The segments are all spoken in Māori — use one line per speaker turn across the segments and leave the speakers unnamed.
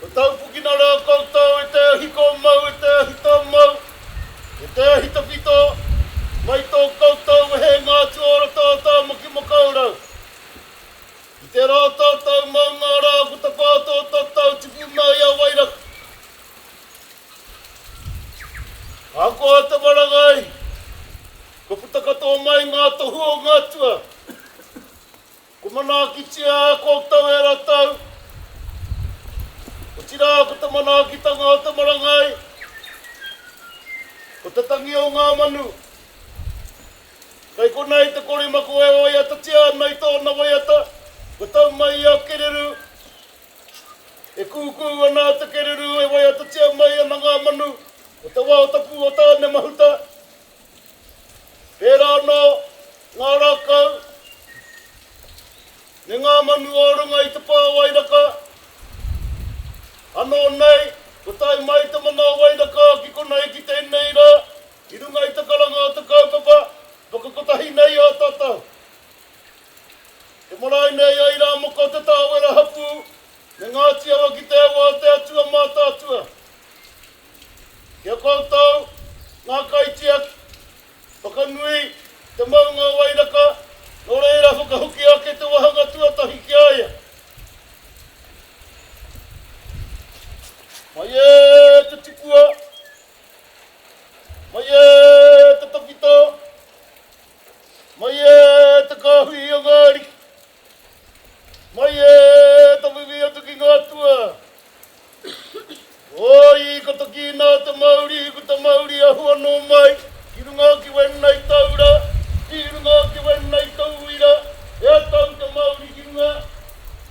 Kua taupukina rā koutou e te ahi kō mau, e te ahi tō mau, e te ahi tawhito, mai tō koutou wehenga atu o roto o Tāmaki Makaurau. I te rā o tātou maunga rā ko te pā tō tātou tuku mai a Wairaka. Ahakoa te marangai, kua puta katoa mai ngā tohu o ngā atua. Kua manaakitia e koutou e ratou, otira ko te manaakitanga o te marangai, ko te tangi o nga manu. Kei konei te korimako e waiatatia ana i tona waiata, kua tau mai ia kereru. E kuku ana te kereru e waiatatia mai ana nga manu, ko te wao tapu o Tane Mahuta, Pērā anō, ngā rākau, me ngā manu o runga i te pā o Wairaka, anō nei, kua tae mai te mana o Wairaka ki konei ki tēnei rā, ki runga i te karanga o te kaupapa whakakotahi nei ā tātou. Te marae nei a Irāmoko Te Tāwera hapū me Ngāti Awa ki te au a te Atua Mātaatua. Ki a koutou, ngā kaitiaki, whakanui te maunga o Wairaka, nō reira whakahoki ake te wāhanga tuatahi ki a ia. Mai e te tipua, mai e te tawhito, mai e te kāhui i a ngā ariki. Mai e taku ki atu ki nga tua. Oi ko toki na te mauri ko te mauri ahu ano mai ki runga ki wena i tau ra ki runga ki wena i tou uira e a tau te mauri ki runga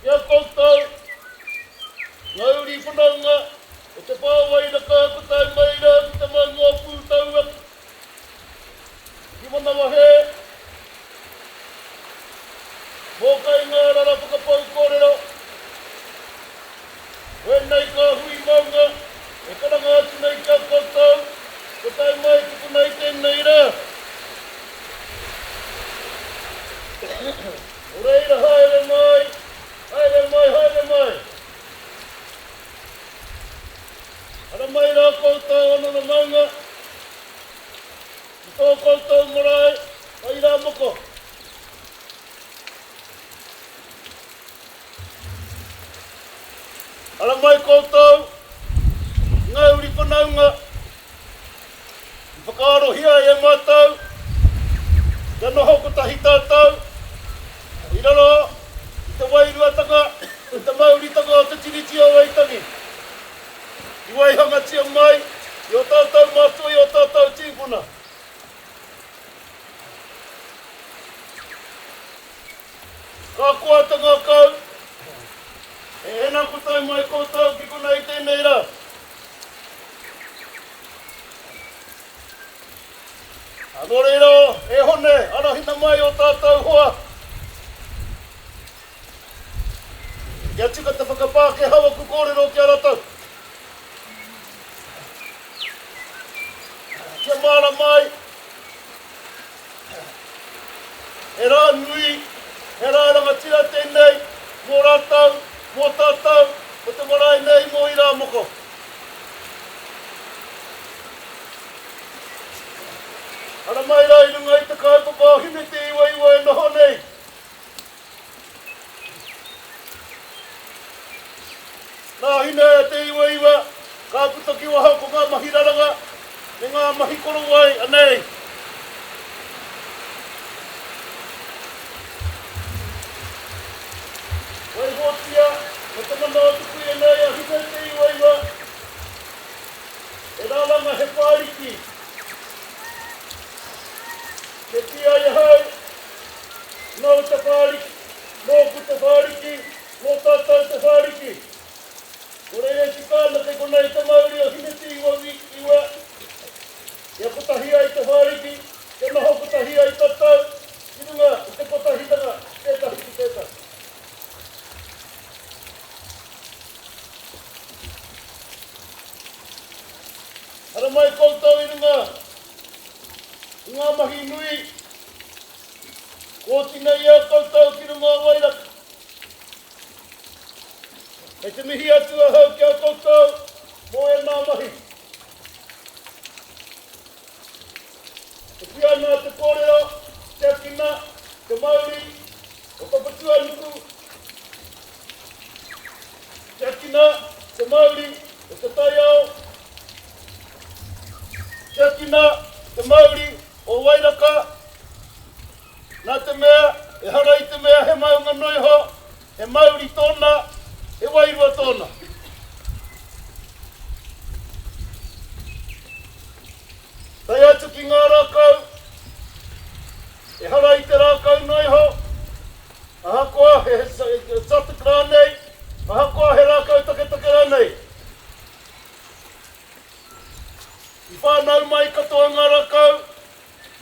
ki a koutou mauri whanaunga o te pa wairaka ko tai mai ra ko te maunga o pu tau atu. Ki Manawa He Mōkai Ngā Rara Whakapau Kōrero Wēnei kā hui maunga e karanga atu nei ki a koutou, ko tae mai tukuna i tēnei rā. Nō reira haere mai, haere mai, haere mai! Ara mai rā koutou o nono maunga ki tō koutou marae whai rā moko. Ara mai koutou i ngā uri whanaunga I whakaarohia e mātou kia noho kotahi tātou i raro i te wairuatanga me te mauritanga o te Tiriti o Waitangi i waihangatia mai i ō tātou mātua, i ō tātou tīpuna. Ka koa te ngakau, e ena kotahi mai koutou ki konei tēnei rā. Nō reira, e Hone, arahina mai ō tātou hoa kia tika te whakapākehau aku kōrero ki a ratou. Kia mārama ai. He rā nui, he rā rangatira tēnei mō rātou, mō tātou, mō te marae nei, mō Irāmoko. Haramai rā i runga i te kaupapa o Hine Te Iwaiwa e noho nei. Nā Hine e te Iwaiwa ka puta ki waho ko ngā mahi raranga me ngā mahi korowai anei. Waihotia me te mana o te kuia nei a Hine e te Iwaiwa e raranga he whāriki. Ke kī ai ahau, Nō te Whāriki, nōku te Whāriki, nō tātou te Whāriki. Ko Reiresi Tāmate konei te mauri o Hinetūiwa Week iwa. Kia kotahi ai te Whāriki, kia noho kotahi ai tātou ki runga i te kotahitanga ki tētahi ki tētahi. Haramai koutou i runga i ngā mahi nui. Oti nei i a koutou ki runga o Wairaka. Kei te mihi atu ahau ki a koutou mo ena mahi. E ki ana te korero, te akina, te mauri o Papatuanuku, te akina, te mauri o te taiao, te akina, te mauri O Wairaka, nā te mea, ehara i te mea he maunga noa iho, he mauri tōna, he wairua tōna. Tae atu ki ngā rākau, ehara i te rākau noa iho, ahakoa he exotic rānei, ahakoa he rākau taketake rānei. I whānau mai katoa ngā rākau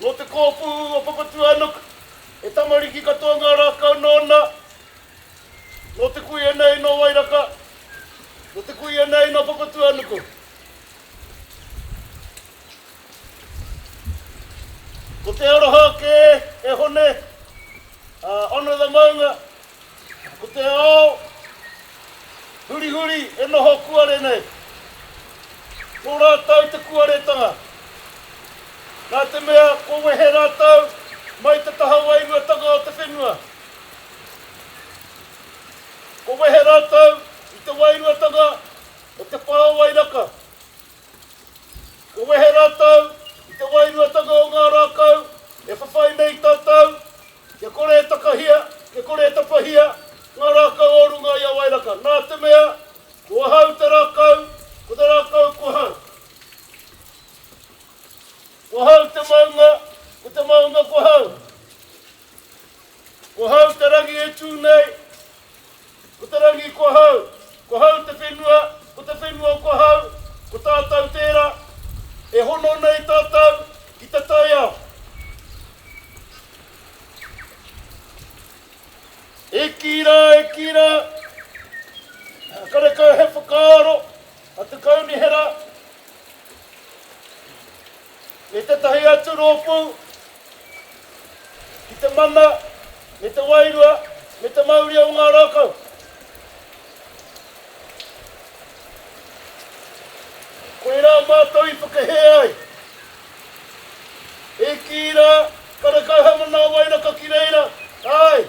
nō te kōpū o Papatūānuku. He tamariki katoa ngā rākau nōna, nō te kuia nei nō Wairaka, nō te kuia nei nō Papatūānuku. Ko te aroha kē e Hone, ā, hono the maunga. Ko te ao hurihuri e noho kuare nei, nō rātou te kuaretanga. Nā te mea kua wehe rātou mai te taha wairuatanga o te whenua, kua wehe rātou i te wairuatanga o te pao wairaka. Kua wehe rātou i te wairuatanga o ngā rākau e whawhai nei tātou, kia kore e takahia, kia kore e tapahia ngā rākau o runga i a Wairaka, nā te mea, ko ahau te rākau, ko te rākau ko ahau. Ko ahau te maunga, ko te maunga ko ahau. Ko ahau te rangi e tū nei, Ko te rangi ko ahau, ko ahau te whenua, ko te whenua ko ahau, ko tātou tērā e hono nei tātou ki te taiao. E kī rā, e kī rā, karekau he whakaaro a te Kaunihera me tētahi atu rōpū ki te mana me te wairua me te mauria o ngā rākau. Koirā mātou i whakahē ai. E kī rā, karekau he manawa wai raka ki reira, āe!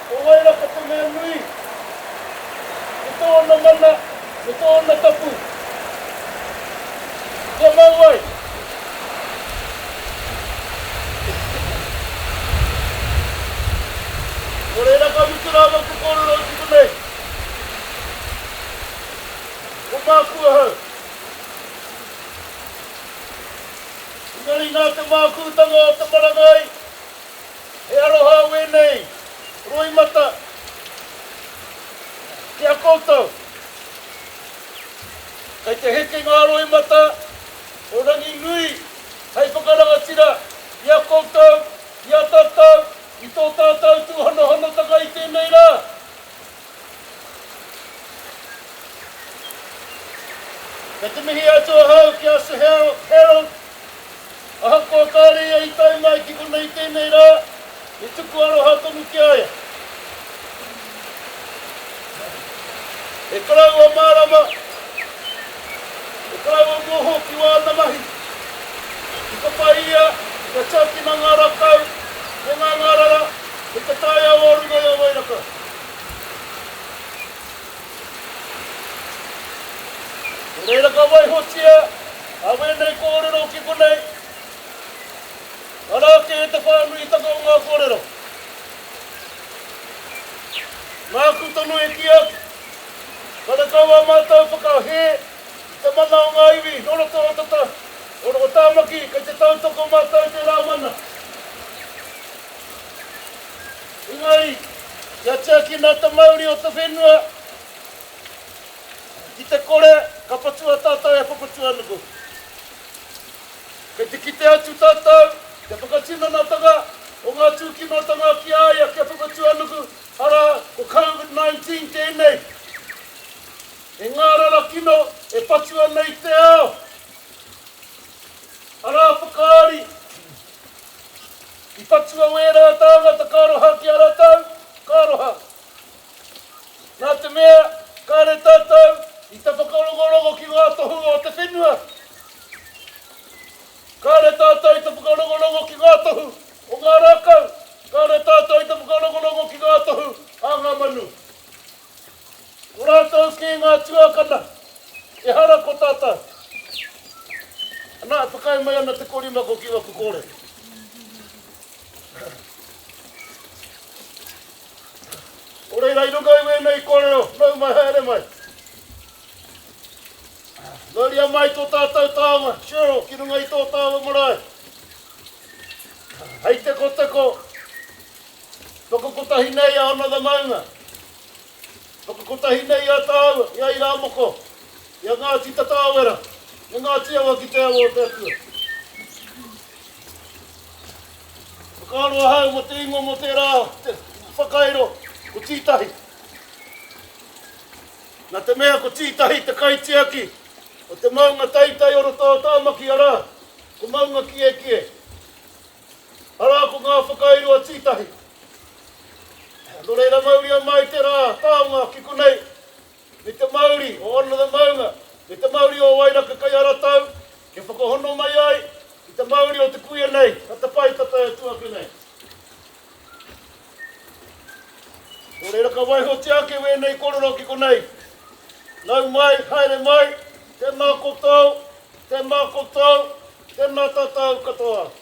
Ko wai ra ko te mea nui? Ko tōna mana, ko tōna tapu. Kia mau ai. Nō reira ka mutu rā maku kōrero i puta nei. Ko māku ahau. Engari nā te mākūtanga o te marangai He aroha au enei roimata ki a koutou. Kei te heke nga roimata o Ranginui hei whakarangatira i a koutou, i a tatou, i to tatou tuhanohanotanga i tenei ra. Kei te mihi atu ahau ki a Sir Harold. Ahakoa kāore ia i tae mai ki konei tēnei rā, he tuku aroha tonu ki a ia. He karaua mārama, he karaua moho ki wāna mahi. I papa ia kia tiakina ngā rakau me ngā ngārara hei te taiao o runga i a Wairaka. Nō reira ka waihotia a wēnei kōrero ki konei, Ara ake te whānuitanga o ngā kōrero. Nāku tonu e kī atu, karekau ā mātou whakahē i te mana o ngā iwi nō roto o Tāmaki kei te tautoko mātou i tērā mana. Engari, kia tiaki nā te mauri o te whenua ki te kore ka patua tātou e Papatūānuku. Kei te kite atu tātou i te whakatinanatanga o ngā tūkinotanga ki a ia, ki a Papatūānuku, arā, ko COVID-19 tēnei. He ngārara kino e patu ana i te ao, arā, whakaari. I patua au ērā tāngata ka aroha ki a ratou, ka aroha. Nā te mea, kāre tātou i te whakarongorongō ki ngā tohu o te whenua. Kāre tātou i te whakarongorongō ki ngā tohu o ngā rākau, kāre tātou i te whakarongorongō ki ngā tohu a ngā manu. Ko rātou kē ngā tuākana, ehara ko tātou. Anā, e whakaae mai ana te korimako ki waku kōrero. Nō reira, i runga i wēnei kōrero, nau mai, haere mai. Mauria mai tō tātou tāonga, Cheryl, ki runga i tō tāua marae. Hei te koteko, Whakakotahi nei a Another Maunga. Whakakotahi nei i a tāua, i a Irāmoko, i a Ngāti Tataawera, me Ngāti Awa ki te awa o te Atua. Whakaaro ahau mō te ingoa mō tērā whakairo, ko Tītahi. Nā te mea ko Tītahi te kaitiaki o te maunga taitai o roto o Tāmaki, arā, ko Maungakiekie. Arā ko ngā whakairo a Tītahi. Nō reira mauria mai te rā taonga ki konei me te mauri o Honour the Maunga, me te mauri o Wairaka Kai a ratou e whakahono mai ai i te mauri o te kuia nei, a Te Pae Tata e tu ake nei. Nō reira ka waihotia ake wēnei korero ki konei. Nau mai, haere mai, tēnā kotou, tēnā kotou, tēnā tatou katoa.